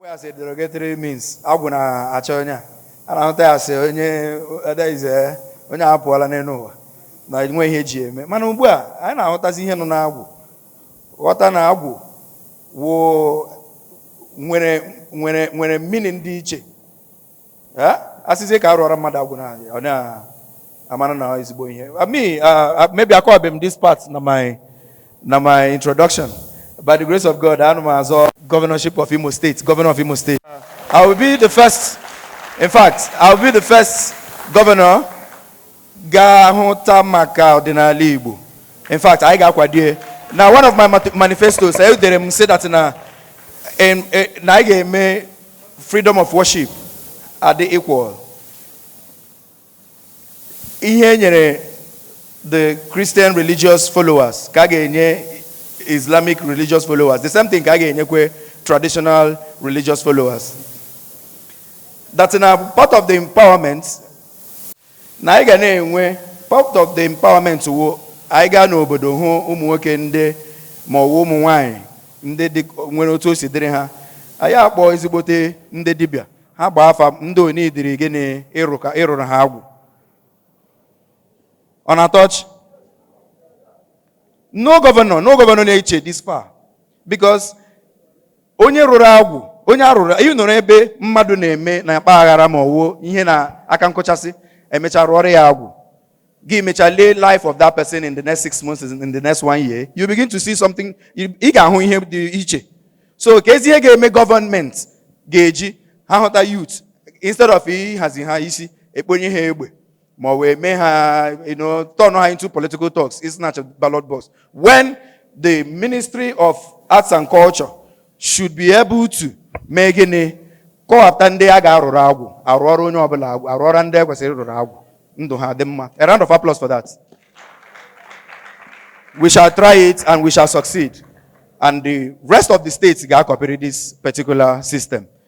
as a derogatory means agwụ na-achọ onye a a na-ahụta ya asị onye adaize onye a pụọla n'elu ụwa na nwe ihe eji eme mana ugbu a anyị na-ahụtazi ihe nọ n'agwụ ghọta na agwụ wụ nwere meaning dị iche asịzie ka arụọra mmadụ agwụ na ọ na-amara na ezigbo ihe me maybe akọwabeghị m this part na my na my introduction by the grace of God ana m azọ governorship of Imo State governor of Imo State I will be the first in fact I will be the first governor ga-ahụta maka ọdịnala Igbo in fact anyị ga-akwadie na one of my manifestos e dere m sị that na e, na anyị ga-eme freedom of worship adị equal ihe e nyere the Christian religious followers ka a ga-enye Islamic religious followers the same thing ka a ga-enyekwe traditional religious followers that na part of the empowerment na anyị ga na-enwe part of the empowerment wụ anyị gaa n'obodo hụ ụmụ nwoke ndị ma ọwụ ụmụ nwaanyị ndị dị nwere otu o si dịrị ha anyị akpọ ezigbote ndị dibịa ha gbaa afa ndị o needịrị gịnị ịrụrụ ha agwụ ọ na-atọ ọchị no governor no governor na-eche this far because onye rụrụ agwụ onye arụrụ ị nọrọ ebe mmadụ na-eme na-akpa aghara ma ọwụ ihe na aka nkọchasị emecha rụọrọ ya agwụ gị mecha lee life of that person in the next six months in the next one year you begin to see something ị ga-ahụ ihe dị iche so ka ezi ihe ga-eme gọọmenti ga-eji ha hụta youth instead of ịhazi ha isi ekponye ha egbe ma ọ wụ mee ha you know, turn ha into political thugs ị snatch ballot box when the ministry of arts and culture should be able to mee gịnị kọwapụta ndị a ga-arụrụ agwụ arụọra onye ọbụla agwụ arụọra ndị e kwesịrị ịrụrụ agwụ ndụ ha dị mma a round of applause for that we shall try it and we shall succeed and the rest of the states ga-acopyrị this particular system